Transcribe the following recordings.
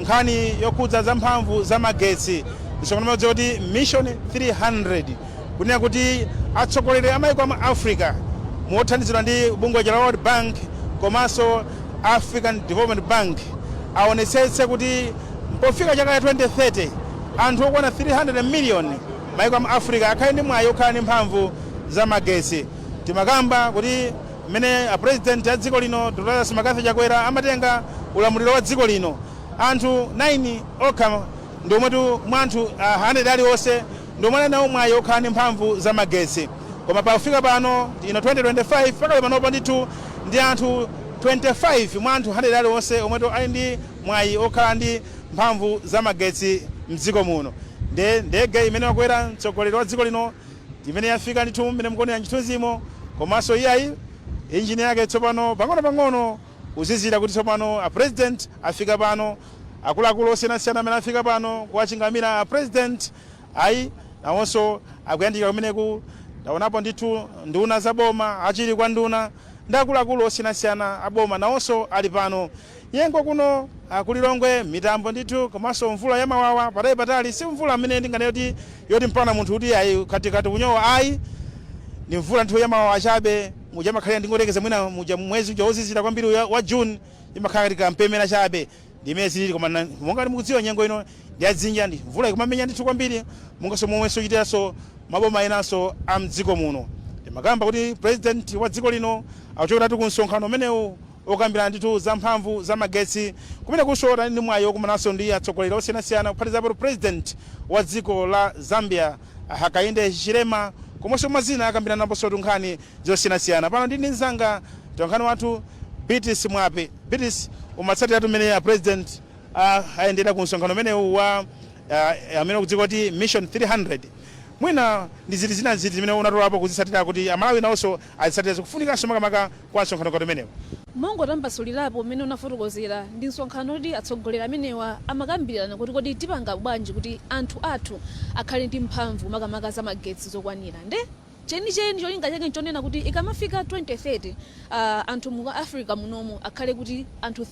nkhani yokhudza za mphamvu za magetsi msonkhano omwe ndi kuti mission 300 kunena kuti atsogoleri a maiko amu africa mothandizidwa ndi bungwe la world bank komanso african development bank aonetsetse kuti pofika chaka cha 2030 anthu okwana 300 million maiko amu africa akhale ndi mwayi okhala ndi mphamvu za magetsi timakamba kuti Mmene a President a dziko lino Dr Lazarus Mccarthy Chakwera amatenga ulamuliro wa dziko lino, anthu 9 okha ndi omwetu mwa anthu 100 aliwonse ndi omwe anali nawo mwayi okhala ndi mphamvu za magetsi koma pakufika pano ino 2025 pakali panopa ndithu ndi anthu 25 mwa anthu 100 aliwonse omwetu ali ndi mwayi okhala ndi mphamvu za magetsi mdziko muno. Ndiye ndege imene wakwera mtsogoleri wa dziko lino imene yafika ndithu mmene mukuonera chithunzimo komanso iyayi engine yake tsopano pang'onopang'ono kuzizira kuti tsopano a president afika pano akuluakulu osiyanasiyana amene afika pano kuwachingamira a president ayi nawonso akuyandika kumeneku taonapo ndithu nduna za boma achiwiri kwa nduna ndi akuluakulu osiyanasiyana a boma nawonso ali pano. Nyengo kuno ku Lilongwe mitambo ndithu komanso mvula ya mawawa patali patali si mvula imene tinganene kuti yoti mpakana munthu kuti ayi khati khati kunyowa ayi ndi mvula ndithu ya mawawa chabe muja imakhalira ndingoyerekeza mwina muja mwezi uja wozizira kwambiri uja wa June imakhala ngati kampemera chabe ndi mmene zilili koma na- monga ngati mukudziwa nyengo ino ndi ya dzinja ndi mvula ikumamenya ndithu kwambiri monganso momwenso ichitiranso maboma enanso a mdziko muno timakamba kuti president wa dziko lino akuchokeratu ku msonkhano umenewu Okambirana ndithu za mphamvu za magetsi kumenekusotu anali ndi mwayi wokumananso ndi atsogoleri osiyanasiyana kuphatikizapo President wa dziko la Zambia a Hakainde Hichilema komanso mwa zina akambiranaponsotu nkhani zosiyanasiyana. Pano ndili ndi mzanga mtolankhani wathu Beatrice Mwape. Beatrice, umatsatiratu mmene a President a ayendera ku msonkhano umenewu wa a amene ukudziwika kuti Mission 300. Mwina ndi ziti zina ndi ziti zimene unatolapo kuzitsatira kuti a Malawi nawonso azitsatire zikufunikanso makamaka kwa msonkhano ngati umenewu. Mongotambasulirapo mmene unafotokozera ndi msonkhano woti atsogoleri amenewa amakambirana kuti kodi tipanga bwanji kuti anthu athu akhale ndi mphamvu makamaka za magetsi zokwanira nde chenicheni cholinga chake nchonena kuti ikamafika 2030 aah anthu mu Africa munomu akhale kuti anthu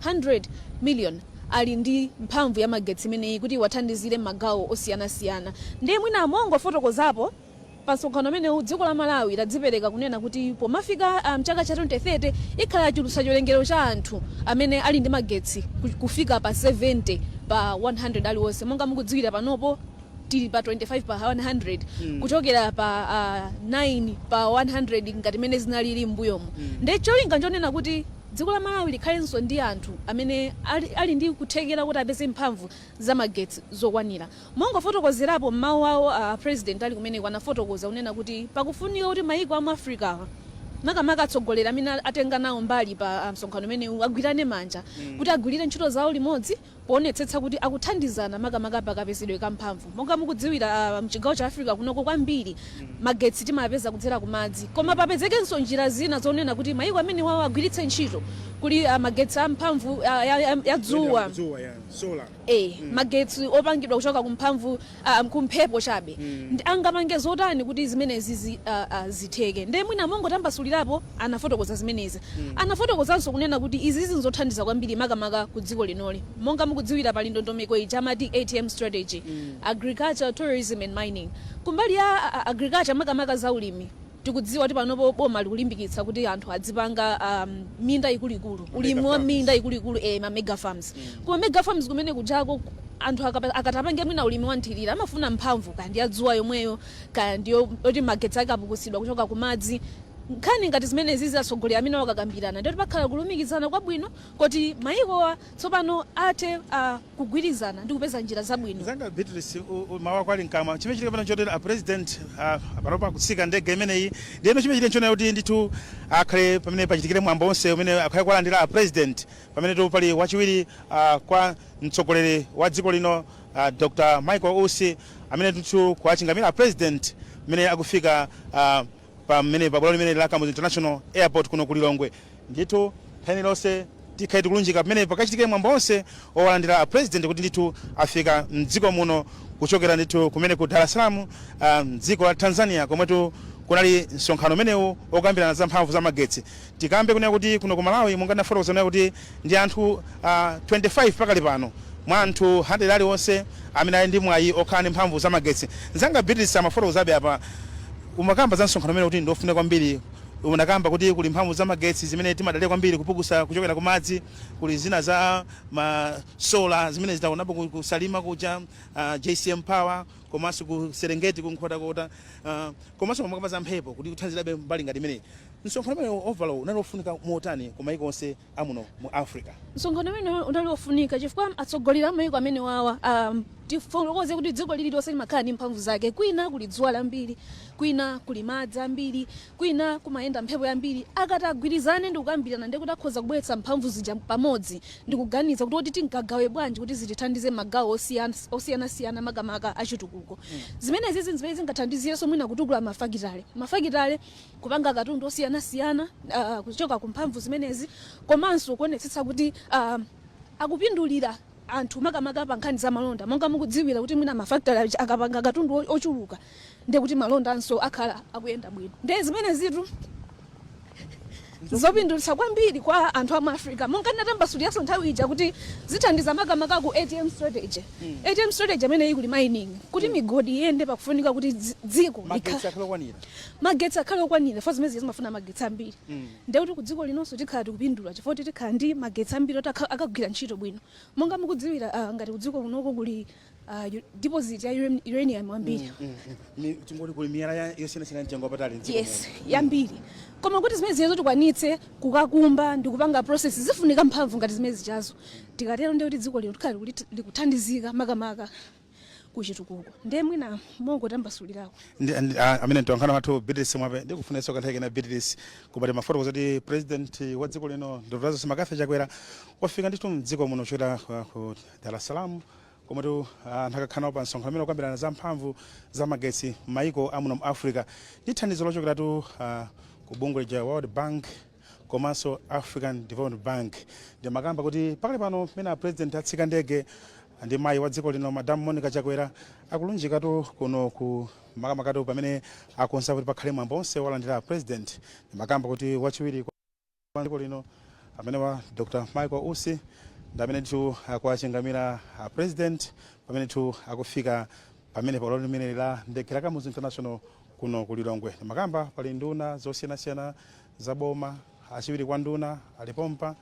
300 million ali ndi mphamvu ya magetsi imeneyi kuti iwathandizire mmagawo osiyanasiyana nde mwina mongofotokozapo Pa msonkhano umenewu dziko la Malawi ladzipereka kunena kuti pomafika mchaka cha 2030 likhala litachulutsa chiwerengero cha anthu amene ali ndi magetsi kufika pa 70 pa 100 aliwonse monga mukudziwira panopo tili pa 25 pa 100 kuchokera pa 9 pa 100 ngati mene zinalili m'mbuyomu nde cholinga nchonena kuti dziko la Malawi likhalenso ndi anthu amene ali ndi kuthekera kuti apeze mphamvu za magetsi zokwanira. Mongofotokozerapo, m'mawu awo a president ali kumeneko anafotokoza kunena kuti pakufunika kuti maiko amu Africa makamaka atsogoleri amene atenga nawo mbali pa msonkhano umenewu agwirane manja kuti agwilire ntchito zawo limodzi poonetsetsa kuti akuthandizana makamaka pa kapezedwe ka mphamvu. Monga mukudziwira mchigawo cha Africa kunoko kwambiri magetsi timapeza kudzera ku madzi koma papezekenso njira zina zonena kuti maiko amenewawa agwiritse ntchito kuli magetsi a mphamvu ya dzuwa. a. Magetsi opangidwa kuchoka ku mphamvu, a, ku mphepo chabe angapange zotani kuti zimenezi zi, a, a, zitheke? Ndiye mwina mongotambasulirapo anafotokoza zimenezi. Anafotokozanso kunena kuti izizi n'zothandiza kwambiri makamaka ku dziko linoli. Monga mukudziwira pali ndondomeko ija amati ATM Strategy, Agriculture, Tourism and Mining. Kumbali ya, a, a, Agriculture makamaka za ulimi. Tikudziwa kuti panopo boma likulimbikitsa kuti anthu adzipanga a minda ikuluikulu, ulimi wa minda ikuluikulu e, ma mega farms. Ku ma mega farms kumene kujako anthu akapa- akati apange mwina ulimi wa nthirira amafuna mphamvu kaya ndi ya dzuwa yomweyo kaya ndi yo- yoti magetsi ake akupukusidwa kuchoka ku madzi. Nkhani ngati zimenezizi atsogoleri amenewa akakambirana ndi kuti pakhale kulumikizana kwabwino koti mayikowa tsopano athe a, kugwirizana ndi kupeza njira zabwino. Mzanga Beatrice, u, u, mawu ako ali mkamwa. Chimene chili pano chotero a president a, a panopa akutsika ndege imeneyi. Ndiyeno chimene chili nchonena kuti ndithu akhale pamene pachitikire mwambo wonse umene akhale kuwalandira a president pamenetu pali wachiwiri a, kwa mtsogoleri wa dziko lino a, Dr. Michael Usi amene ndithu akuwachingamira a president pamene akufika a, pamene pa bwalo limeneli la Kamuzu International Airport kuno ku Lilongwe. Ndithu nthawi iliyonse tikhale tikulunjika pamene pakachitike mwambo onse owalandira a President kuti ndithu afika m'dziko muno kuchokera ndithu kumene ku Dar es Salaam m'dziko la Tanzania komwetu kunali msonkhano umenewu okambirana za mphamvu za magetsi. Tikambe kunena kuti kuno ku Malawi monga ndinafotokoza kunena kuti ndi anthu a 25 pakali pano mwa anthu 100 aliwonse amene ali ndi mwayi okhala ndi mphamvu za magetsi. Nzanga Beatrice amafotokozabe apa umakamba za msonkhano umene kuti ndi ofunika kwambiri unakamba kuti kuli mphamvu za magetsi zimene timadalira kwambiri kupukusa kuchokera ku madzi kuli zina za ma solar zimene tinaonapo ku ku Salima kuja JCM power komanso ku Serengeti ku Nkhotakota komanso umakamba za mphepo kuti ikuthandizabe mbali ngati imeneyi. Msonkhano umenewo overall unali wofunika motani ku maiko onse a muno mu Africa? Msonkhano umenewo unali wofunika chifukwa atsogoleri a maiko amenewawa aah, tifotokoze kuti dziko lililonse limakhala ndi mphamvu zake, kwina kuli dzuwa lambiri, kwina kuli madzi ambiri, kwina kumayenda mphepo yambiri, akati agwirizane ndi kukambirana ndiye kuti akhoza kubweretsa mphamvu zija pamodzi ndi kuganiza kuti kodi tingagawe bwanji kuti zitithandize m'magawo osiyanasiyana makamaka achitukuko. Zimenezizi n'zimene zingathandizirenso mwina kutukula mafakitale. Mafakitale. kupanga katundu osiyanasiyana uh, kuchoka ku mphamvu zimenezi komanso kuonetsetsa kuti uh, akupindulira anthu makamaka pa nkhani za malonda monga mukudziwira kuti mwina mafakitale aja akapanga katundu o- ochuluka ndiye kuti malondanso akhala akuyenda bwino ndiye zimenezitu zopindulitsa kwambiri kwa anthu a mu africa monga ndinatambasuliranso nthawi ija kuti zithandiza makamaka ku ATM strategy ATM strategy amene kuli mining kuti migodi iyende pakufunika kuti dzi- dziko magetsi likha- akhala okwanira Magetsi akhale okwanira chifukwa zimene zija zimafuna magetsi ambiri ndiye kuti kudziko linonso tikhala tikupindula chifukwa kuti tikhala ndi magetsi ambiri oti akagwira ntchito bwino. Monga mukudziwira ngati kudziko kunoko kuli deposit ya uranium yambiri. Tingoti kuli miyala yosiyanasiyana yamtengo wapatali m'dziko muno. Yes, yambiri. Koma kuti zimene zijazo tikwanitse kukakumba ndi kupanga process zifunika mphamvu ngati zimene zijazo. Tikatero ndiye kuti dziko lino tikhala likuthandizika makamaka. kuchitukuko ndiye mwina mongotambasulirako Ndi- ndi- a- ameneyo mtolankhani wathu Beatrice Mwape ndikupezanso kanthawi kena Beatrice paja timafotokoza kuti president wa dziko lino Dr. Lazarus McCarthy Chakwera wafika ndithu mdziko muno kuchokera kwa- ku Dar es Salaam komwetu anakakhala nawo pa msonkhano umene umakambirana za mphamvu za magetsi m'mayiko amuno mu Africa ndi thandizo lochokeratu ah, ku bungwe la World Bank komanso African Development Bank. Ndimakamba kuti pakali pano pamene a President atsika ndege ndi mayi wa dziko lino Madam Monica Chakwera akulunjikatu kuno ku makamakatu pamene akonza kuti pakhale mwambo onse owalandira a President. Ndimakamba kuti wachiwiri kwa dziko lino amene ali Dr. Michael Usi ndi amenetu akuwachingamira a President pamenetu akufika pamene pa bwalo limeneli la ndege la Kamuzu International kuno ku Lilongwe. Ndimakamba pali nduna zosiyanasiyana za boma, achiwiri kwa nduna ali pompa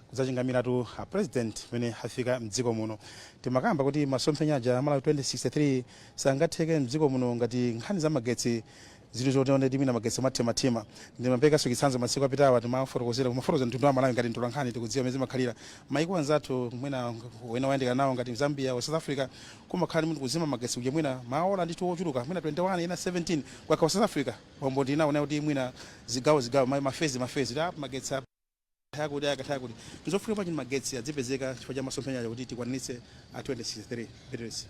kudzachingamiratu a president pamene afika mdziko muno. Ndimakamba kuti masomphenya aja a Malawi 2063 sangatheke mdziko muno ngati nkhani za magetsi zili zoti onde timina magetsi mathimathima ndimaperekanso chitsanzo masiku apitawa timafotokozera kumafotokoza mtundu wa Malawi ngati mtolankhani tikudziwa mmene zimakhalira maiko anzathu mwina ena oyandikana nawo ngati Zambia kwa South Africa kumakhala ndithu kuzima magetsi kuja mwina maola ndithu ochuluka mwina 21 ena 17 kwakha wa South Africa Pompo ndinaona kuti mwina zigawo zigawo ma, ma phase ma phase ta magetsi a- akatha kuti akatha kuti nzofunika bwanji magetsi adzipezeka chifukwa cha masomphenya aja kuti tikwanitse a 2063 Beatrice.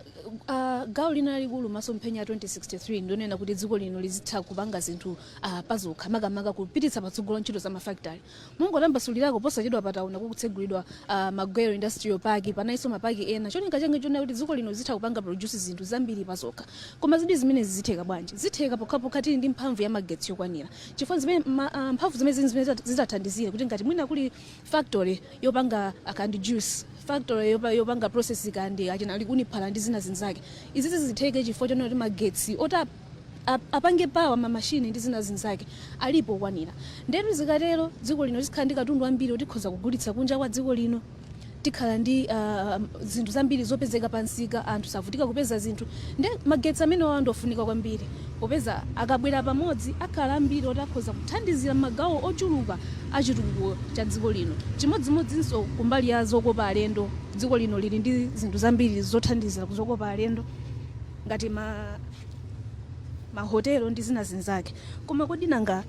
Uh, gawo lina lalikulu masomphenya a 2063 ndionena kuti dziko lino lizitha kupanga zinthu uh, pazokha makamaka kupititsa patsogolo ntchito za mafakitali Mongotambasulirako, posachedwapa taona kukutsegulidwa Magwero Industrial Park, panalinso ma park ena. Cholinga chake nchonena kuti dziko lino lizitha kupanga produce zinthu zambiri pazokha. Koma zidi zimenezi zitheka bwanji? Zitheka pokhapokha tili ndi mphamvu ya magetsi yokwanira. Chifukwa nzimene ma mphamvu zimenezi nzimene zitathandizire kuti ngati mwina kuli factory yopanga kaya ndi juice, factory yopanga process kaya ndi achina likuni phala ndi zina zinzake, izi zitheke chifukwa chonena kuti magetsi oti a. ap- apange power mamashini ndi zina zinzake alipo okwanira ndetu zikatero dziko lino tikhala ndi katundu wambiri oti tikhoza kugulitsa kunja kwa dziko lino tikhala ndi ah, zinthu zambiri zopezeka pamsika anthu savutika kupeza zinthu nde magetsi amenewawa ndiofunika kwambiri popeza akabwera pamodzi akhala ambiri oti akhoza kuthandizira magawo ochuluka a chitukuko cha dziko lino chimodzimodzinso kumbali ya zokopa alendo dziko lino lili ndi zinthu zambiri zothandizira kuzokopa alendo ngati ma ma hotel ndi zina zinzake koma kodi nanga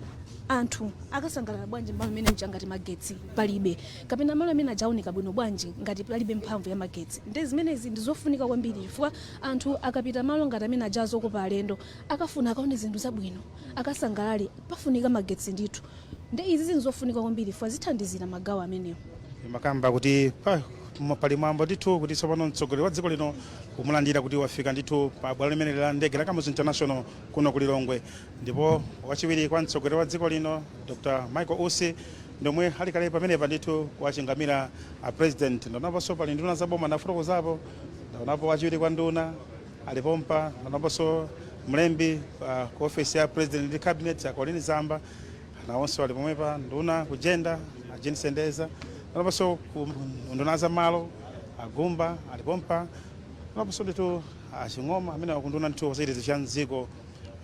anthu akasangalala bwanji malo amene aja ngati magetsi palibe kapena malo amene aja aoneka bwino bwanji ngati palibe mphamvu ya magetsi nde zimenezi ndi zofunika kwambiri chifukwa anthu akapita malo ngati amene aja azokopa alendo akafuna akaone zinthu zabwino akasangalale pafunika magetsi ndithu nde izi zinthu zofunika kwambiri chifukwa zithandizira magawo amenewo imakamba kuti pa Koma pali mwambo ndithu kuti tsopano mtsogoleri wa dziko lino kumulandira kuti wafika ndithu pa bwalo limeneli la ndege la Kamuzu International kuno ku Lilongwe ndipo wachiwiri kwa mtsogoleri wa dziko lino Dr Michael Usi ndomwe ali kale pamenepa ndithu kuwachingamira a president ndaonaponso pali nduna za boma ndafotokozapo ndaonapo wachiwiri kwa nduna ali pompa ndaonaponso mlembi uh, ku ofesi ya president ndi cabinet a Colleen Zamba Nawonso ali pomwepa nduna ku gender a Jean Sendeza ndaonaponso ku nduna za malo a Gumba ali pompa ndaonaponso ndithu a Ching'oma amene akunduna ndithu ku zachitetezo cha mdziko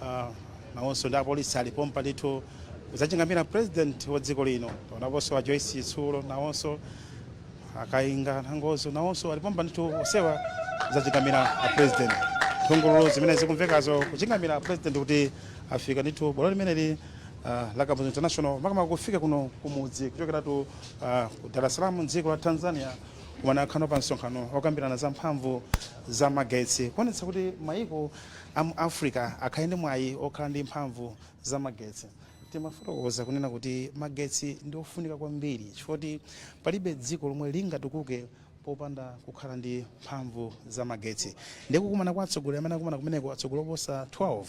ah, nawonso ndi apolisi ali pompa ndithu kuzachingamira president wa dziko lino ndaonaponso a Joyce Chitsulo nawonso a Kainga Nangozo nawonso ali pompa ndithu onsewa kuzachingamira a president nthungululu zimene zikumvekazo kuchingamira a president kuti afika ndithu bwalo limeneli uh, la Kamuzu International makamaka kufika kuno kumudzi kuchokeratu uh, ku Dar es Salaam mdziko la Tanzania kumene akhala pa msonkhano okambirana za mphamvu za magetsi kuonetsa kuti maiko a mu Africa akhale ndi mwayi okhala ndi mphamvu za magetsi timafotokoza kunena kuti magetsi ndi ofunika kwambiri chifukwa palibe dziko lomwe lingatukuke popanda kukhala ndi mphamvu za magetsi ndi kukumana kwa atsogoleri amene akumana kumeneko atsogoleri oposa 12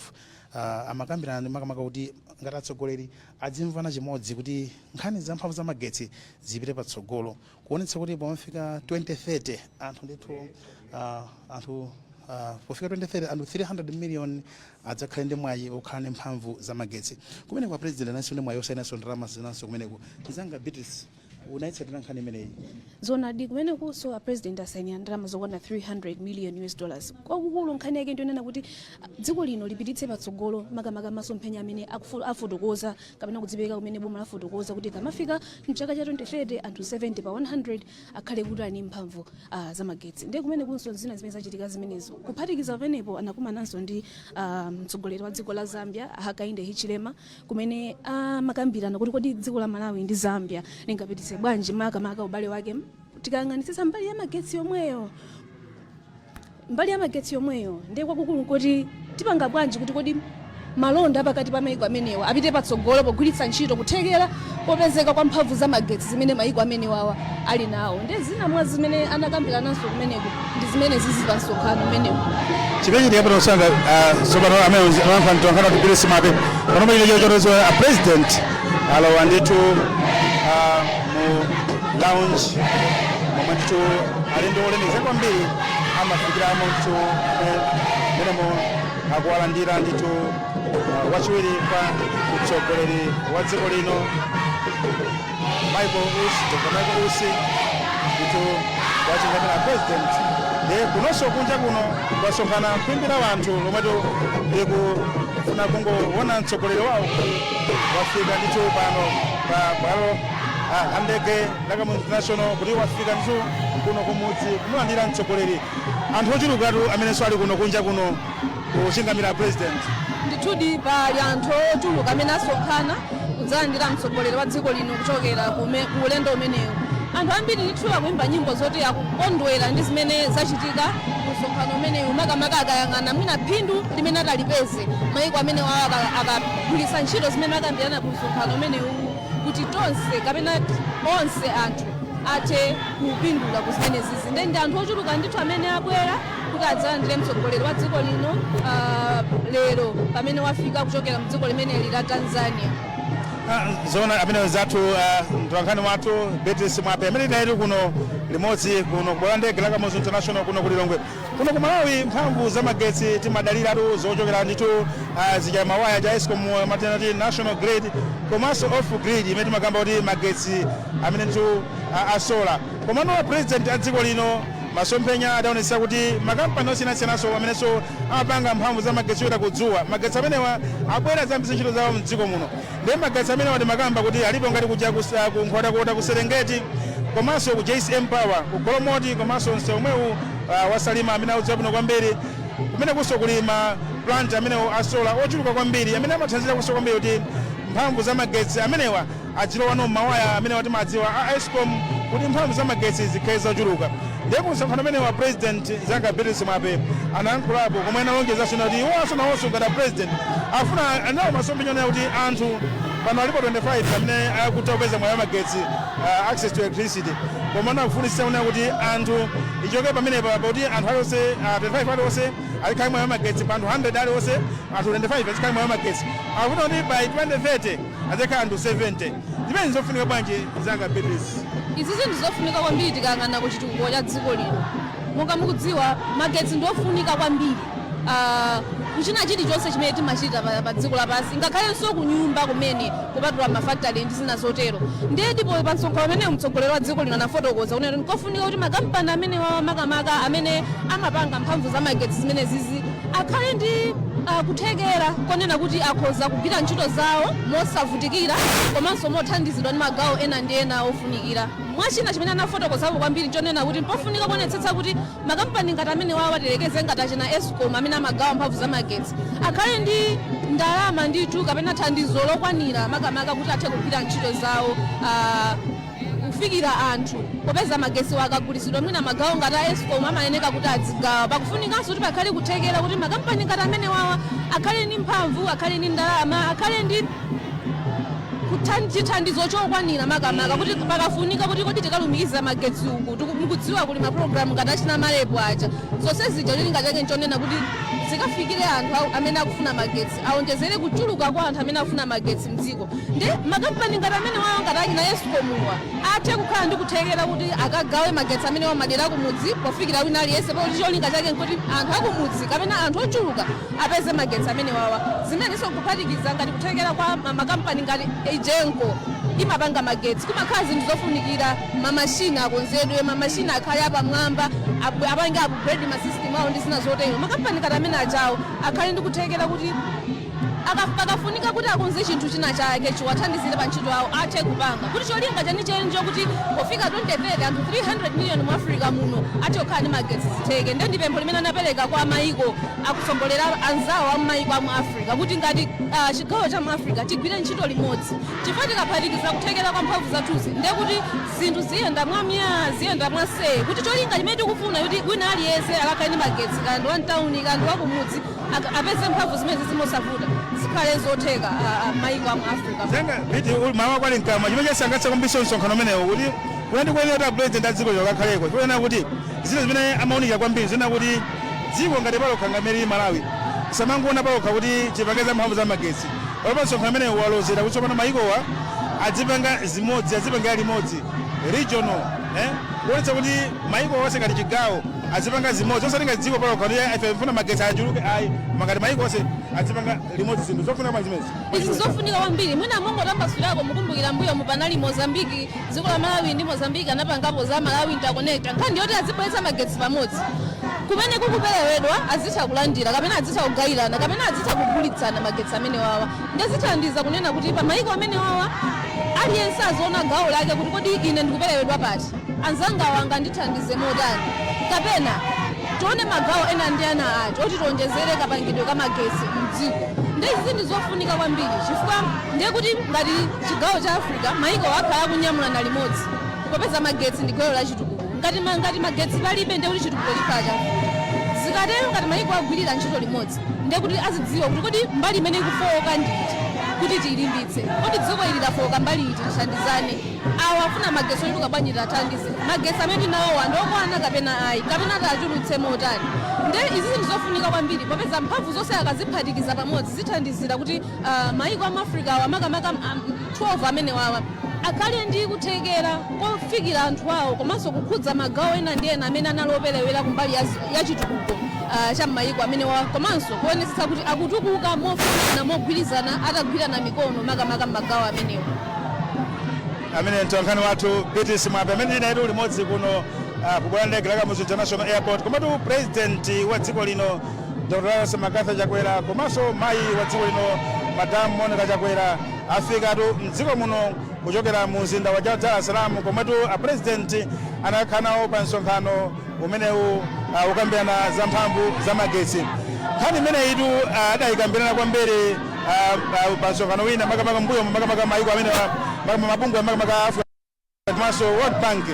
ah, amakambirana makamaka kuti ngati atsogoleri adzimvana chimodzi kuti nkhani za mphamvu za magetsi zipite patsogolo kuonetsa kuti pomafika 2030 anthu ndithu ah, anthu ah, pofika 2030 anthu 300 million adzakhale ndi mwayi okhala ndi mphamvu za magetsi kumeneko a president analinso ndi mwayi osainanso ndalama zinanso kumeneko mzanga beatrice unaitsatira nkhani imeneyi zonadi kumenekunso a president asainira ndalama zokwana 300 million us dollars kwakukulu nkhani yake ndi yonena kuti ah, dziko lino lipititse patsogolo makamaka masomphenya amene akufu- afotokoza kapena kudzipereka kumene boma lafotokoza kuti kamafika mchaka cha 2030 anthu 70 pa 100 akhale kuti ali ndi mphamvu ah, za magetsi ndiye kumenekunso zina zimene zachitika zimenezo kuphatikiza pamenepo anakumananso ndi ah, mtsogoleri wa dziko la zambia hakainde hichilema kumene amakambirana kuti kodi dziko la malawi ndi zambia lingapititse bwanji makamaka ubale wake tikayang'anitsitsa mbali ya magetsi yomweyo mbali ya magetsi yomweyo ndiye kwakukulu nkuti tipanga bwanji kuti kodi malonda a pakati pa maiko amenewa apite patsogolo pogwiritsa ntchito kuthekera popezeka kwa mphamvu za magetsi zimene mayiko amenewawa ali nawo. Ndiye zina mwa zimene anakambirananso kumeneko ndi zimenezizi pa msonkhano umenewu. chimene chiyamba nosanga tsopano amene amayankhula mtolankhani wathu beatrice mwape panopa chimene chachitika a president alowa ndithu ah, mu lounge momwe ndithu alendo olemekeza kwambiri amafikiramo ndithu mmenemo akuwalandira ndithu uh, wachiwiri kwa mtsogoleri wa dziko lino michael usi dr michael usi ndithu akuchingamira president ndiye kunonso kunja kuno kwasonkhana khwimbi la wanthu lomwetu likufuna kungoona mtsogoleri wawo wafika ndithu pano pa bwalo ah, la ndege la kamuzu international kuti wafika ndithu kuno kumudzi kumulandira mtsogoleri anthu ochulukatu amenenso ali kuno kunja kuno kuchingamira president ndithudi pali anthu ochuluka amene asonkhana kudzalandira mtsogoleri wa dziko lino kuchokera kume- ku ulendo umenewu anthu ambiri ndithu akuimba nyimbo zoti akukondwera ndi zimene zachitika ku msonkhano umenewu makamaka akayang'ana mwina phindu limene atalipeze maiko amene wawo aka- akagwiritsa ntchito zimene akambirana ku msonkhano umenewu kuti tonse kapena onse anthu athe kupindula ku zimenezizi ndiye ndi anthu ochuluka ndithu amene abwera kuti adzalandire mtsogoleri wa dziko lino ah, lero pamene wafika kuchokera mdziko limeneli la tanzania Ah, zoona ameneyo nzathu ah, mtolankhani wathu beatrice mwape amene tinalitu kuno limodzi kuno ku bwalo la ndege la kamuzu international kuno ku lilongwe kuno ku malawi mphamvu za magetsi timadaliratu zochokera ndithu ah, zija za mawaya a escom timati national grid komanso off grid imene timakamba kuti magetsi amene ndithu ah, a solar Komano a President a dziko lino masomphenya adaonetsa kuti ma kampani osiyanasiyananso amenenso amapanga mphamvu za magetsi yoyendera dzuwa, magetsi amenewa abwere adzayambitse ntchito zawo m'dziko muno. Ndiye magetsi amenewa timakamba kuti alipo ngati kuja ku sa ku Nkhotakota ku Serengeti komanso ku JCM Power ku Golomoti komanso msewu omwewu ah, wa Salima amene akudziwa bwino kwambiri. Kumenekunso kuli ma plant amenewa a solar ochuluka kwambiri amene amathandiziranso kwambiri kuti mphamvu za magetsi amenewa adzilowano m'mawaya amenewa timadziwa a ESCOM kuti mphamvu za magetsi zikhale zochuluka ndiye ku msonkhano umenewu a president mnzanga Beatrice Mwape anayankhulapo komwe analonjezanso kunena kuti iwonso nawonso ngati a president akufuna ali nawo masomphenya onena kuti anthu pano alipo 25 amene akutha kupeza mwayi wa magetsi uh, access to electricity koma akufunitsitsa kunena kuti anthu ichoke pamenepa pakuti anthu alionse uh, 25 alionse azikhala ndi mwayi wa magetsi pa anthu 100 alionse anthu 25 azikhala ndi mwayi wa magetsi akufuna kuti by 2030 adzakhala anthu 70. Zimenezi ndi zofunika bwanji mnzanga Beatrice? Izizi ndi zofunika kwambiri tikayang'ana ku chitukuko cha dziko lino. Monga mukudziwa magetsi ndi ofunika kwambiri ku china chilichonse chimene timachita pa dziko lapansi ngakhalenso ku nyumba kumene kupatula ma factory ndi zina zotero. Ndiye ndipo pa msonkhano umenewu mtsogoleri wa dziko lino anafotokoza kunena kuti n'kofunika kuti makampani amenewawa makamaka amene amapanga mphamvu za magetsi zimenezizi, akhale ndi ah, kuthekera konena kuti akhoza kugwira ntchito zawo mosavutikira komanso mothandizidwa ndi magawo ena ndi ena ofunikira mwa china chimene anafotokozapo kwambiri nchonena kuti mpofunika kuonetsetsa kuti makampani ngati amenewawa tiyerekeze ngati achina ESCOM amene amagawa mphamvu za magetsi akhale ndi ndalama ndithu kapena thandizo lokwanira makamaka kuti athe kugwira ntchito zawo ah, kufikira anthu. Popeza magetsiwa akagulitsidwa mwina magawo ngati a ESCOM amayeneka kuti adzigawa, pakufunikanso kuti pakhale kuthekera kuti makampani ngati amenewawa akhale ndi mphamvu, akhale ndi ndalama, akhale ndi chithandizo chokwanira makamaka kuti pakafunika kuti kodi tikalumikiza magetsi uku tiku- mukudziwa kuli mapulogalamu ngati achina MAREP aja zonse zija cholinga chake nchonena kuti zikafikire anthu awo amene akufuna magetsi kuti awonjezere kuchuluka kwa anthu amene akufuna magetsi mdziko nde makampani ngati amenewawa ngati achina ESCOM-wa athe kukhala ndi kuthekera kuti akagawe magetsi amenewa m'madera akumudzi pofikira wina aliyense pakuti cholinga chake nkuti anthu akumudzi kapena anthu ochuluka apeze magetsi amenewawa zimenenso kuphatikiza ngati kuthekera kwa ma- makampani ngati EGENCO imapanga magetsi kumakhala zinthu zofunikira mamashini akonzedwe mamashini akhale apamwamba abu- apange upgrade masystem awo ndi zina zotero makampani ngati amene ajawo akhale ndi kuthekera kuti aka- pakafunika kuti akonze chinthu china chake chiwathandizire pa ntchito yawo athe kupanga kuti cholinga chenicheni nchokuti pofika 2030 anthu 300 miliyoni mu Africa muno athe kukhala ndi magetsi zitheke nde ndi pempho limene anapereka kwa mayiko atsogoleri anzawo a mmayiko a mu Africa kuti ngati ah, chigawo cha mu Africa tigwire ntchito limodzi Chifukwa tikaphatikiza kuthekera kwa mphamvu zathuzi ndiye kuti zinthu ziyenda mwa myaa, ziyenda mwa see, kuti cholinga chimene tikufuna choti wina aliyense akakhale ndi magetsi kaya ndi wa mtauni kaya ndi wa kumudzi ak apeze mphamvu zimenezi mosavuta zikhale zotheka a a maiko a mu Africa muno. Nanga Biti uli mawa kwali mkamwa, chimene chasangalatsa kwambiriso msonkhano umenewu kuti kunali koyenera kuti a president a dziko lino akakhalepo chifukwa chonena kuti zina zimene amaunikira kwambiri zonena kuti dziko ngati palokha ngati mmene lilili Malawi tisamangoona palokha kuti tipange za mphamvu za magetsi Apa msonkhano umenewu walozera kuti tsopano mayikowa adzipanga zimodzi, adzipangira limodzi, regional, eh, kuonetsa kuti mayiko onse ngati chigawo adzipanga zimodzi, osati ngati dziko palokha kuti ife tifuna magetsi achuluke ayi, koma ngati mayiko onse adzipanga limodzi zinthu zofunika ngati zimenezi. Izi nzofunika kwambiri. Mwina mungotambasulirako mukumbukira mbuyomu panali Mozambique Dziko la Malawi ndi Mozambique anapangapo za Malawi Interconnector, nkhani yoti azibweretsa magetsi pamodzi. Kumene kukuperewedwa azitha kulandira kapena azitha kugayirana kapena azitha kugulitsana magetsi amenewawa. Nde zithandiza kunena kuti pa mayiko amenewawa aliyense aziona gawo lake kuti kodi ine ndikuperewedwa pati, anzangawa angandithandize motani kapena tione magawo ena ndi ena ati oti tionjezere kapangidwe ka magetsi m'dziko. Nde izizi ndi zofunika kwambiri chifukwa ndiye kuti ngati Chigawo cha Africa maiko akhala akunyamulana limodzi popeza magetsi ndi gwero la chitukuko. Ngati ma ngati magetsi palibe ndiye kuti chitukuko chikhala chavuta. Zikatero ngati maiko agwirira ntchito limodzi ndiye kuti azidziwa kuti kodi mbali imene ikufooka ndi iti kuti tiilimbitse. Kodi dziko ili lafooka mbali iti tithandizane. Awa afuna magetsi ochuluka bwanji tiathandize. Magetsi amene tili nawowa ndi okwana kapena ayi kapena tiachulutse motani. Ndiye izizi ndi zofunika kwambiri popeza mphamvu zonse akaziphatikiza pamodzi zithandizira kuti. Mayiko a mu Afrikawa, makamaka 12 amenewawa, akhale ndi kuthekera kofikira anthu awo komanso kukhudza magawo ena ndi ena amene anali operewera kumbali ya chitukuko cha m'mayiko amenewa komanso kuonetsetsa kuti akutukuka mofanana, mogwirizana, atagwirana mikono makamaka m'magawo amenewa. Ameneyo ndi mtolankhani wathu Beatrice Mwape amene ndili nayetu limodzi kuno ku bwalo la ndege la Kamuzu International Airport komatu pulezidenti wa dziko lino Dr Lazarus McCarthy Chakwera komanso mayi wa dziko lino Madam Monica Chakwera afikatu mdziko muno kuchokera mu mzinda wa Dar es Salaam komwetu a President anakakhala nawo pa msonkhano umenewu uh, wokambirana za mphamvu za magetsi. Nkhani imeneyitu uh, adayikambirana kwambiri uh, uh, pa msonkhano wina makamaka mbuyo makamaka mayiko amene makamaka mabungwe makamaka Africa komanso World Bank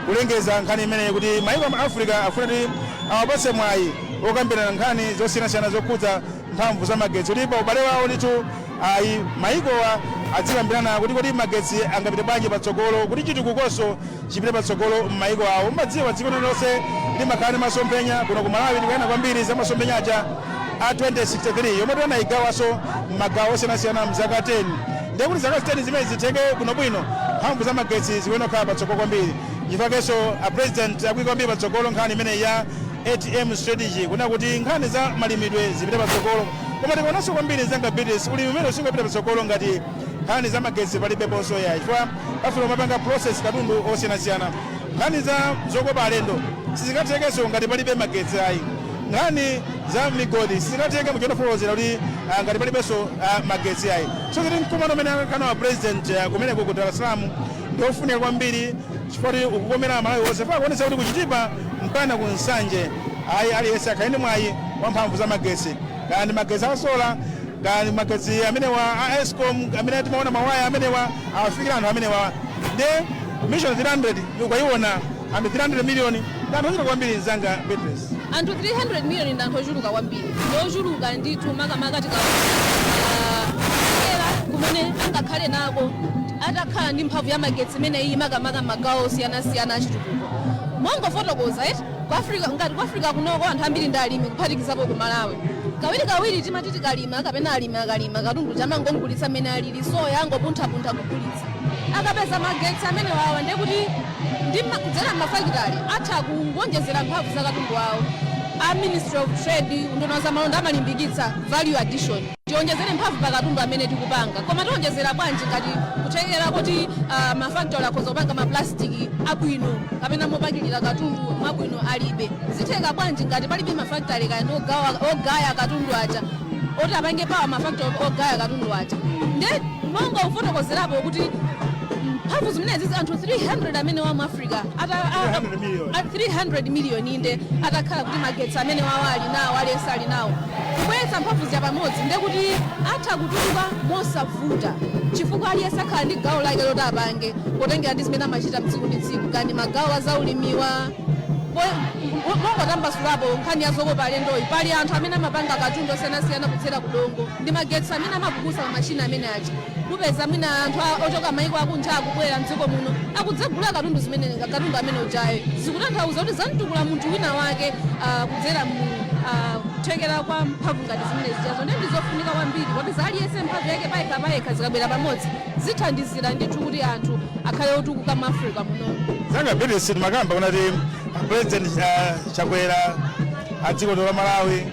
kulengeza nkhani imeneyi kuti mayiko a mu Africa afuna kuti awapatse mwayi wokambirana nkhani zosiyanasiyana zokhudza mphamvu za magetsi, kuti pa ubale wawo ndithu ayi mayikowa adzikambirana kuti kodi magetsi angapite bwanji patsogolo, kuti chitukukonso chipite patsogolo m'mayiko awo. Mumadziwa dziko lililonse limakhala ndi masomphenya, kuno ku Malawi tikuyang'ana kwambiri za masomphenya aja a 2063 yomwetu anayigawanso m'magawo osiyanasiyana m'zaka 10. Ndiye kuti zaka 10 zimenezi zitheke bwinobwino, mphamvu za magetsi zikuyenera kukhala patsogolo kwambiri. Nchifukwa chakenso a President akuika kwambiri patsogolo nkhani imeneyi ya ATM Strategy kunena kuti nkhani za malimidwe zipite patsogolo. Koma tikaonanso kwambiri nzanga Beatrice, ulimi umenewu sungapite patsogolo ngati nkhani za magetsi palibeponso iyayi chifukwa pafunika kumapanga process katundu osiyanasiyana. Nkhani za zokopa alendo sizingathekenso ngati palibe magetsi ayi. Nkhani za migodi sizingatheke muja unafotokozera kuti ah, ngati palibenso ah, magetsi ayi so kuti mkumano umene akakhala wa president ah, kumeneko ku Dar es Salaam ndi ofunika kwambiri chifukwa choti ukukomera Amalawi onse pa kuonetsa kuti ku Chitipa mpakana ku Nsanje ayi aliyense akhale ndi mwayi wa mphamvu za magetsi kaya ndi magetsi a sola kaya ndi magetsi amenewa a ESCOM amene timaona mawaya amenewa awafikira anthu amenewa ndi Mission 300 ukaiona Anthu 300 miliyoni ndi anthu ochuluka kwambiri mzanga Beatrice. Anthu 300 miliyoni ndi anthu ochuluka kwambiri. Ndi ochuluka ndithu makamaka tikaonera kuthekera kumene angakhale nako atakhala ndi mphamvu ya magetsi imeneyi makamaka m'magawo osiyanasiyana achitukuko. Mongofotokoza kuti ku Africa ngati ku Africa kunoko anthu ambiri ndi alimi kuphatikizapo ku Malawi. Kawirikawiri timati tikalima kapena alimi akalima katundu uja amangogulitsa mmene alili soya angopunthapuntha kugulitsa. Akapeza magetsi amenewawa ndiye kuti ndi kudzera mafakitale atha kuwonjezera mphamvu za katundu wawo. A Ministry of Trade, Unduna wa Zamalonda, amalimbikitsa value addition. Tiwonjezere mphamvu pa katundu amene tikupanga. Koma tiwonjezera bwanji ngati kuthekera koti uh, mafakitale akhoza kupanga maplasitiki abwino kapena mopakilira katundu mwabwino alibe? Zitheka bwanji ngati palibe mafakitale kaya ndi ogawa- ogaya katundu aja oti apange pawa mafakitale ogaya katundu aja? Nde Monga ufotokozerapo kuti mphamvu zimenezi anthu 300 amenewa mu Africa ata- a- a- 300 million. a- 300 million inde atakhala kuti magetsi amenewawa ali nawo aliyense ali nawo kubweretsa mphamvu zija pamodzi nde kuti atha kutukuka mosavuta chifukwa aliyense akhala ndi gawo lake loti apange potengera ndi zimene amachita mtsiku ndi tsiku kaya ndi magawo a zaulimiwa mongotambasulapo nkhani ya zokopa alendoyi pali anthu amene amapanga katundu osiyanasiyana kudzera kudongo ndi magetsi amene amapukusa ma machine amene aja kupeza mwina anthu a- ochoka maiko akunja akubwera mdziko muno akudzagula katundu zimene katundu amene ujayo zikutanthauza kuti zamtukula munthu wina wake ah, kudzera mu ah, kuthekera kwa mphamvu ngati zimene zijazo nde ndizofunika kwambiri popeza aliyense mphamvu yake payekha payekha zikabwera pamodzi zithandizira ndithu kuti anthu akhale otukuka mu Africa munono nzanga Beatrice timakamba kunena kuti president ah, Chakwera a dziko la Malawi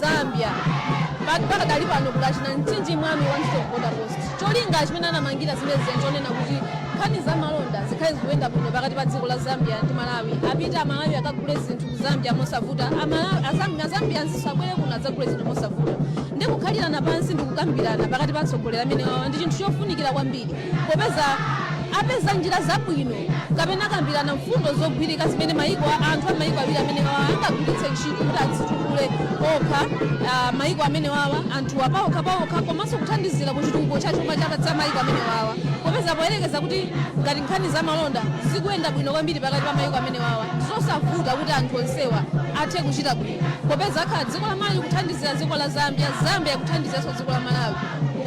Zambia. Pakadali pano kuli kwa Mchinji Mwami one stop border post. Cholinga chimene anamangira zimene zija nchonena kuti nkhani za malonda zikhale zikuyenda bwino pakati pa dziko la Zambia ndi Malawi. Apite Amalawi akagule zinthu ku Zambia mosavuta, Amalawi Azambia Zambians abwere kuno adzagule zinthu mosavuta. Ndi kukhalirana pansi ndi kukambirana pakati pa atsogoleri amenewawa ndi chinthu chofunikira kwambiri. popeza apeza njira zabwino kapena akambirana mfundo zogwirika zimene maiko anthu a maiko awiri amenewawa angagwiritse ntchito kuti azitukule okha ah, maiko amenewawa anthuwa paokha paokha komanso kuthandizira ku chitukuko cha chuma cha cha maiko amenewawa popeza poyerekeza kuti ngati nkhani za malonda zikuyenda bwino kwambiri pakati pa maiko amenewawa nzosavuta kuti anthu onsewa athe kuchita bwino popeza akhala dziko la malawi kuthandizira dziko la zambia zambia kuthandizanso dziko la malawi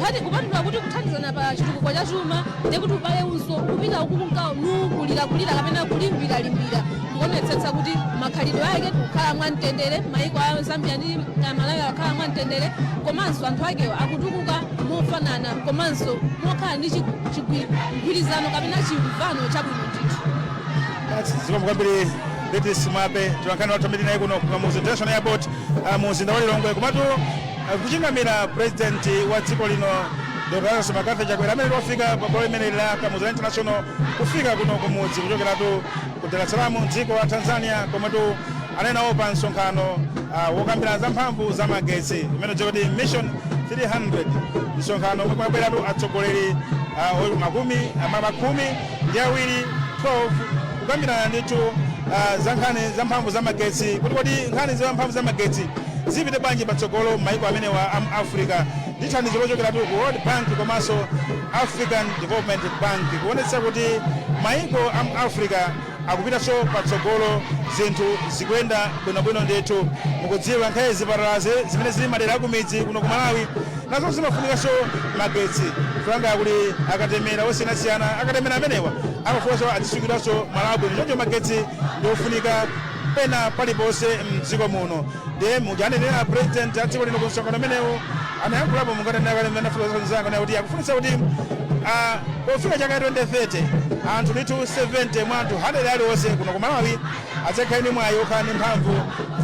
nkhani kupatula kuti kuthandizana pa chitukuko cha chuma ndi kuti ubale unso kupita ukukunka nukulirakulira kapena kulimbiralimbira ndikuonetsetsa kuti makhaliro ake tikukhala mwa mtendere maiko a zambia ndi ah, malawi akhala mwa mtendere komanso anthu akewo akutukuka mofanana komanso mokhala ndi chi- chigwi- mgwirizano kapena chimvano chabwino ndithu zikomo kwambiri beatrice mwape mtolankhani wathu amene ndi naye kuno ku kamuzu international airport ah, mu mzinda wa lilongwe komatu Kuchingamira President wa dziko lino Dr Lazarus McCarthy Chakwera amene tu wafika pa bwalo limeneli la Kamuzu International kufika kuno kumudzi kuchokeratu ku Dar es Salaam mdziko la Tanzania komwetu anali nawo pa msonkhano uh, wokambirana za mphamvu za magetsi umene ukudziwika kuti mission 300 msonkhano omwe kumabweratu atsogoleri uh, makumi ah ah khumi ndi awiri 12 kukambirana ndithu ah, za nkhani za mphamvu za magetsi kuti kodi nkhani za mphamvu za magetsi zipite bwanji patsogolo m'mayiko amenewa a mu africa ndi thandizo lochokeratu ku world bank komanso african development bank kuonetsa kuti mayiko a mu africa akupitanso patsogolo zinthu zikuyenda bwinobwino ndithu mukudziwa nkhani zipatalazi zimene zili madera akumidzi kuno ku malawi nazo zimafunikanso magetsi malinga kuli akatemera osiyanasiyana akatemera amenewa amafunanso azisungidwanso malo abwino choncho magetsi ndiofunika pena paliponse mdziko muno ndiye muja anenera president a dziko lino ku msonkhano umenewu anayankhulapo monga tanena ine ndi anzanga kuti akufunitsa kuti ah, pofika chaka 2030 anthu ndithu 70 mwa anthu 100 aliwonse kuno ku malawi adzakhale ndi mwayi okhala ndi mphamvu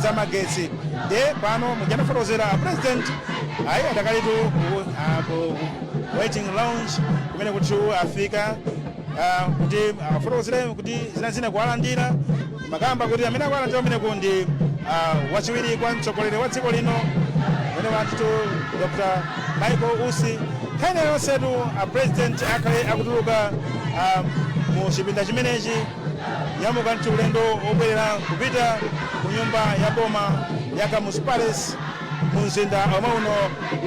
za magetsi nde pano muja ndafotokozera a president ayi adakalitu ku- ah, ku waiting lounge kumenekotu afika ah, kuti afotokozere kuti zinazina kuwalandira makamakatu amene akuwalandira kumeneko ndi ah, wachiwiri kwa mtsogoleri wa dziko lino amene ndi tu dr michael usi nthawi ina iliyonsetu a president akhale akutuluka ah, mu chipinda chimenechi Nyamuka ndi ulendo wobwerera kupita ku nyumba ya boma ya Kamuzu Palace mu mzinda omwe uno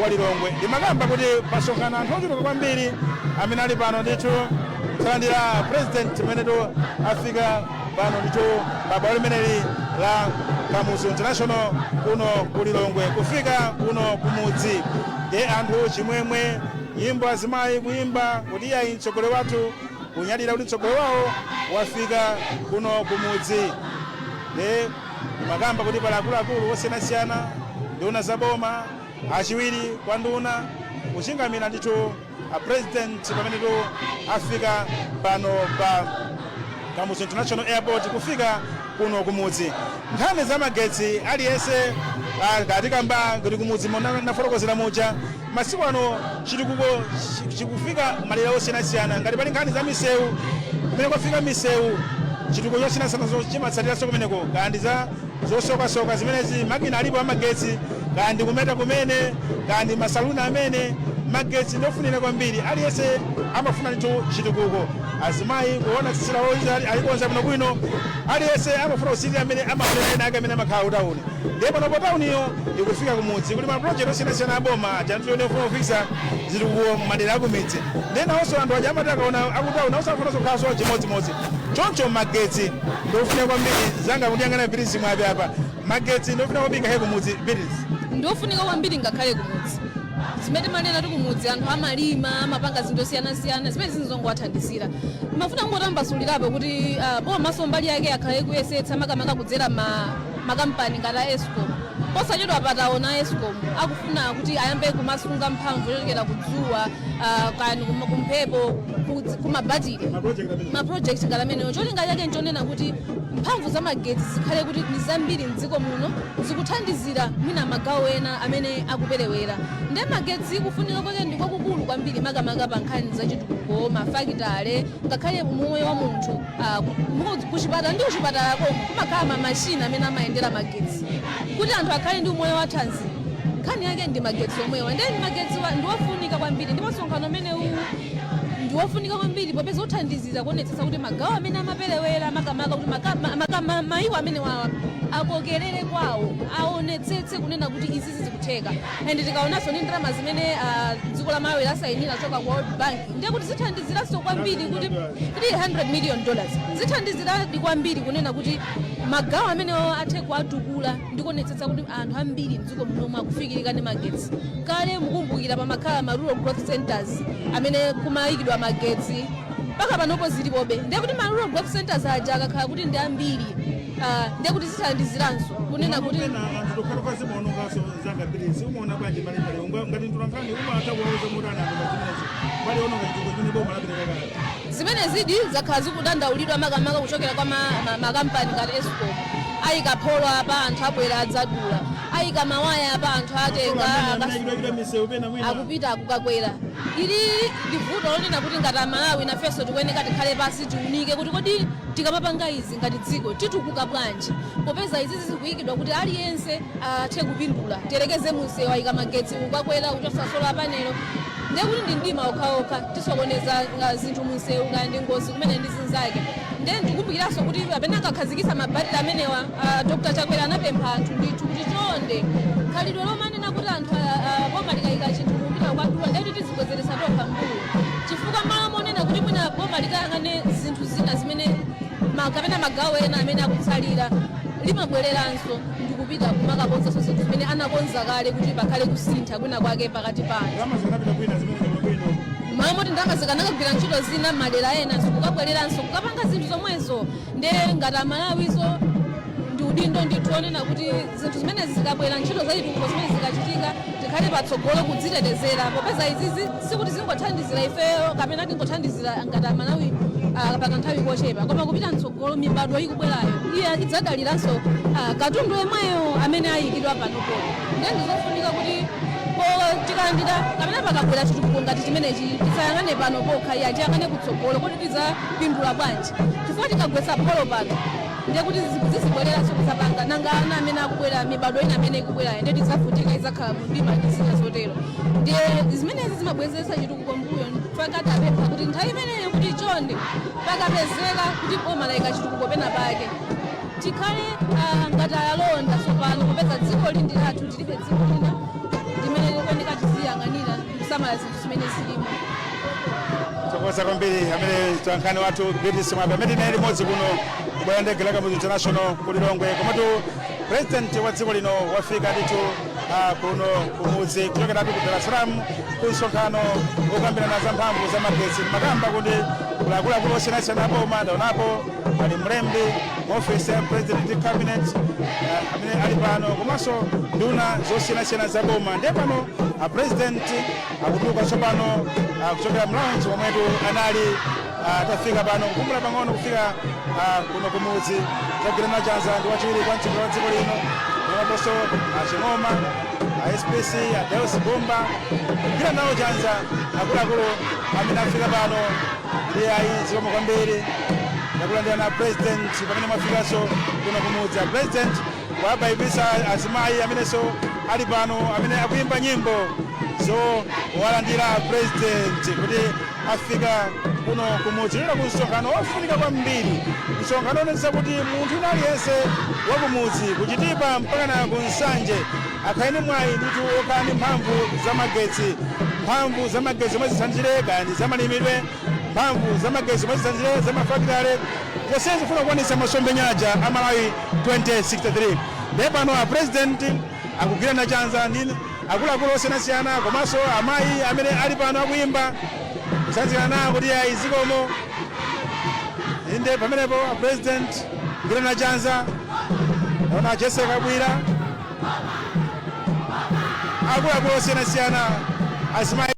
wa Lilongwe. Ndimakamba kuti pasonkhana anthu ochuluka kwambiri amene ali pano ndithu kulandira president pamenetu afika pano ndithu pa bwalo limeneli la Kamuzu International kuno ku Lilongwe kufika kuno kumudzi ndi anthu chimwemwe nyimbo azimayi kuyimba kuti ayi mtsogoleri wathu kunyadira kuti mtsogoleri wawo wafika kuno kumudzi ndimakamba kuti pali akuluakulu osiyanasiyana nduna za boma achiwiri kwa nduna kuchingamira ndithu a president pamenetu afika pano pa kamuzu international airport kufika kuno kumudzi nkhani za magetsi aliyense ah, katikamba kuti kumudzi monga nafotokozera muja Masiku ano chitukuko chikufika madera osiyanasiyana. Ngati pali nkhani za misewu, kumene kwafika misewu, chitukuko chosiyanasiyana chimatsatiranso kumeneko, ka ndi za zosokasoka zimenezi, makina alipo amagetsi, ka ndi kumeta kumene, ka ndi masaluni amene. Magetsi ndi ofunira kwambiri, aliyense amafuna ndithu chitukuko. Azimayi kuona tsitsi lawo kuti ali- alikonza bwinobwino aliyense amafuna kusirira amene amaonera anzake amene amakhala kutauni ndiye panopo tauniyo ikufika kumudzi kuti maprojekti osiyanasiyana aboma aja ndi ofuna kufikitsa zitukuko madera akumidzi ndiye nawonso anthu aja amati akaona akutauni nawonso amafuna kukhalanso chimodzimodzi choncho magetsi ndiofunika kwambiri mnzanga akundiyang'ana birizi mwape apa magetsi ndiofunika kwambiri ngakhale kumudzi birizi ndiofunika kwambiri ngakhale kumudzi zimene timanena kuti kumudzi anthu amalima amapanga zinthu zosiyanasiyana zimene zizingowathandizira ndimafuna kungotambasulirapo kuti ah, bomaso mbali yake akhala kuyesetsa makamaka kudzera ma- makampani ngati a escom posachedwapa taona a escom akufuna kuti ayambe kumasunga mphamvu yochokera kudzuwa ah, kani kuma- kumphepo kudzi- kumabatire maprojekti ngati amenewo cholinga chake nchonena kuti mphamvu za magetsi zikhale kuti ndi zambiri mdziko muno zikuthandizira mwina magawo ena amene akuperewera nde magetsi kufunika kwake ndi kwakukulu kwambiri makamaka pa nkhani za chitukuko mafakitale ngakhale umoyo wa munthu ah, ku- kuchipatala ndi kuchipatala komwe kumakhala mamashini amene amayendera magetsi kuti anthu akhale ndi umoyo wa thanzi nkhani yake ndi magetsi omwewa ndiye ndi magetsi wa- ndi wofunika kwambiri ndipo msonkhano umenewu ndi wofunika kwambiri popeza uthandizira kuonetsetsa kuti magawo amene amaperewera makamaka kuti maka- ma- maka- ma- maiko amenewawa akokerere kwawo aonetsetse kunena kuti izi zizikutheka and tikaonanso ndi ndalama zimene ah, dziko la malawi lasayinira kuchoka ku world bank ndiye kuti zithandiziranso kwambiri kuti 300 million dollars zithandiziradi kwambiri kunena kuti magawo amenewawa athe kuwatukula ndi kuonetsetsa kuti anthu ambiri dziko muno akufikirika ndi magetsi kale mukumbukira pamakhala ma rural growth centers amene kumayikidwa magetsi mpaka panopo zilipobe ndiye kuti ma rural growth centers aja akakhala kuti ndi ambiri ah, ndiye kuti zithandiziranso kunena kuti zitokhala kwa zimaonongaso zanga mbiri siumaona bwanji mbalimbali ngati mtolankhani umatha kuwauza motani anthu pazimenezo mbali yoononga chitukuko chimene boma lapereka kale Zimenezidi zakhala zikudandaulidwa makamaka kuchokera kwa ma, ma, makampani ngati escom ayika pholo apa anthu abwera adzadula ayika mawaya apa anthu atenga akasu- akupita kukakwera ili ndi vuto lonena kuti ngati amalawi nafenso tikuyeneka tikhale pasi tiunike kuti kodi tikamapanga izi ngati dziko titukuka bwanji popeza izi zikuyikidwa kuti aliyense athe kupindula tiyerekeze munsewu ayika magetsi kukakwera kuchotsa sola panelo ndiye kuti ndi mdima okhaokha tisokoneza nga zinthu munsewu kaya ndi ngozi kumene ndi zinzake ndiye ndikumbukiraso kuti pamene ankakhazikisa mabatire amenewa ah, dr chakwera anapempha anthu ndithu kuti chonde khalidwe lomanena kuti anthu ah, ah, boma likayika chinthu kupita kukadula ndiye kuti tizibwezeretsa tokha mbuyo chifukwa mmalo monena kuti mwina boma likayang'ane zinthu zina zimene ma- kapena magawo ena amene akutsalira limabwereranso ndi kupita kumakakonzanso zinthu zimene anakonza kale kuti pakhale kusintha kwina kwake pakati pa anthu mmalo moti ndalama zikanakagwira ntchito zina mmadera ena zikukabwereranso kukapanga zinthu zomwezo nde ngati amalawinso ndi udindo ndithu onena kuti zinthu zimenezi zikabwera ntchito zachitukuko zimene zikachitika tikhale patsogolo kudzitetezera popeza izizi sikuti zingothandizira ifeyo kapena tingothandizira ngati amalawi ah, pakanthawi kochepa koma kupita mtsogolo mibadwo ikubwerayo iye idzadaliranso ah, katundu yemweyo amene ayikidwa panopo ndiye ndizofunika kuti po- tikalandira kapena pakabwera chitukuko ngati chimenechi tisayang'ane pano pokha iya tiyang'ane kutsogolo kuti tidzapindula bwanji chifukwa tikagwetsa pholo pano ndiye kuti zizibwereranso kuzapanga nanga ana amene akubwera mibadwo ina amene ikubwerayo ndiye tidzavutika idzakhala mdima ndi zina zotero ndiye zimenezi zimabwezeretsa chitukuko mbuyo pakati apempha kuti nthawi imeneyo kuti chonde pakapezeka kuti boma layika chitukuko pena pake tikhale ah, ngati alonda tsopano popeza dzikoli ndi lathu tilibe dziko lina limene tikuyeneka tiziyang'anira kusamala zinthu zimene zilimo tathokoza kwambiri amene mtolankhani wathu beatrice mwape amene tili naye limodzi kuno ku bwalo la ndege la kamuzu international ku lilongwe komatu president wa dziko lino wafika ndithu ah, kuno kumudzi kuchokeratu ku dar es salaam ku msonkhano wokambirana za mphamvu za magetsi makamba kuti akuluakulu osiyanasiyana apo umanda unapo pali mlembi mu ofesi ya president cabinet eh, amene ali pano komanso nduna zosiyanasiyana za boma ndiye pano a president akutuluka tsopano ah, kuchokera mlaunji momwetu anali ah, atafika pano kupumula pang'ono kufika ah, kuno kumudzi akugwirana chanza ndi wachiwiri kwa mtsogoleri wa dziko lino komanso a Ching'oma a SPC a Deus Zamba kugwirana nawo chanza akuluakulu amene afika pano ndiye ayi zikomo kwambiri takulandirani a president pamene mwafikanso kuno kumudzi a president wabayibisa azimayi amenenso ali pano amene akuyimba nyimbo zo walandira a president kuti afika kuno kumudzi lero ku msonkhano wofunika kwambiri msonkhano onetsa kuti munthu wina aliyense wakumudzi ku Chitipa mpaka na ku Nsanje Akhale ni mwayi ndithu okhala ndi mphamvu za magetsi, mphamvu za magetsi zomwe zithandizire kaya ndi za malimidwe, mphamvu za magetsi zomwe zithandizire za ma fakitale, zonsezi zikufuna kukwanitsa masomphenya aja a Malawi 2063. Ndiye pano a president akugwirana chanza ndi akuluakulu osiyanasiyana komanso amayi amene ali pano akuyimba kutsanzikana nawo kuti ayi zikomo. Inde pamenepo a president kugwirana chanza, naona a Jesse Kabwila. akuluakulu osiyanasiyana azimayi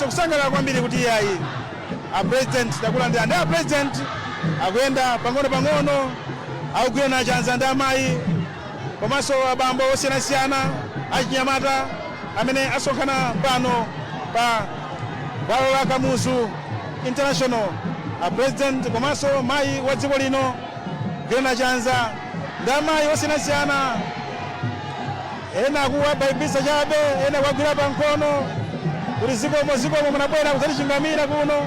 kusangalala kwambiri kuti iyayi apresident takulandira ndi apresident akuyenda pang'ono pang'ono akugwirana chanza ndi amayi komanso abambo osiyanasiyana achinyamata amene asonkhana pano pa bwalo la Kamuzu International apresident komanso mayi wa dziko lino kugwirana chanza ndi amayi osiyanasiyana ena akuwabayibisa chabe ena kuwagwira pa mkono kuti zikomo zikomo munabwera kudzatichingamira kuno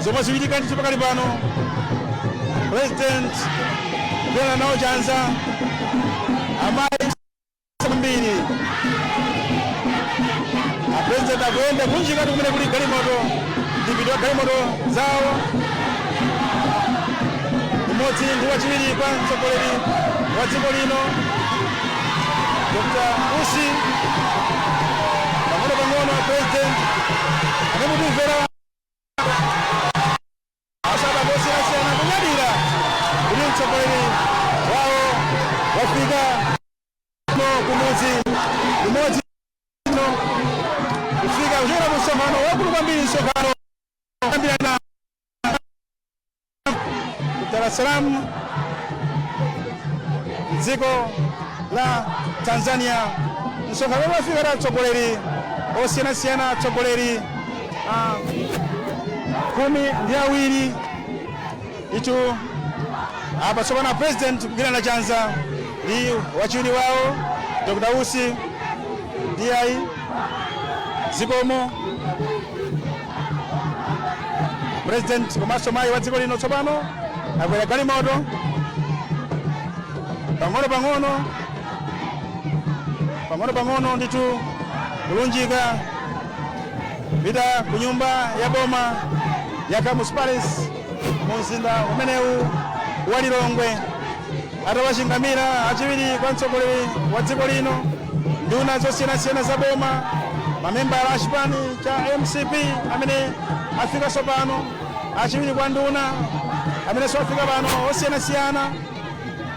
zomwe zikuchitika ndithu pakali pano president kugwirana nawo chanza amayi kwambiri apresident akuyenda kulunjika kumene kuli galimoto mdipiti wa galimoto zawo umodzi ndi wachiwiri kwa mtsogoleri wa dziko lino Dr Usi pang'ono pang'ono apresident anemutimvera Mabwana osiyanasiyana kunyadira kuti mtsogoleri wawo wafika kuno kumudzi kumudzi kuno kufika kuchokera ku msonkhano waukulu kwambiri msonkhano kukambirana Dar es Salaam mdziko la Tanzania msonkhano wafika atsogoleri osiyanasiyana atsogoleri ah, khumi ndi awiri ndithu apa tsopano a president kugwirana chanza ndi wachiwiri wawo dr Usi ndiye ayi zikomo president komanso mayi wa dziko lino tsopano akwera galimoto pang'ono pang'ono pang'ono pang'ono ndithu kulunjika pita ku nyumba ya boma ya Kamuzu Palace mu mzinda umenewu wa Lilongwe atawachingamira achiwiri kwa mtsogoleri wa dziko lino nduna zosiyanasiyana za boma mamembala a chipani cha mcp amene afikanso pano achiwiri kwa nduna amenenso afika pano osiyanasiyana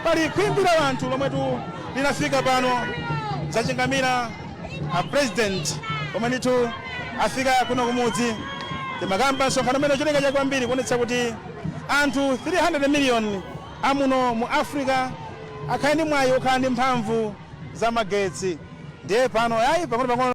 pali khwimbi la anthu lomwetu linafika pano kudzachingamira a president omwe ndithu afika kuno kumudzi timakamba pa msonkhano umene cholinga chake kwambiri kuonetsetsa kuti anthu 300 million amuno mu africa akhale ndi mwayi okhala ndi mphamvu za magetsi ndiye pano yayi pang'ono pang'ono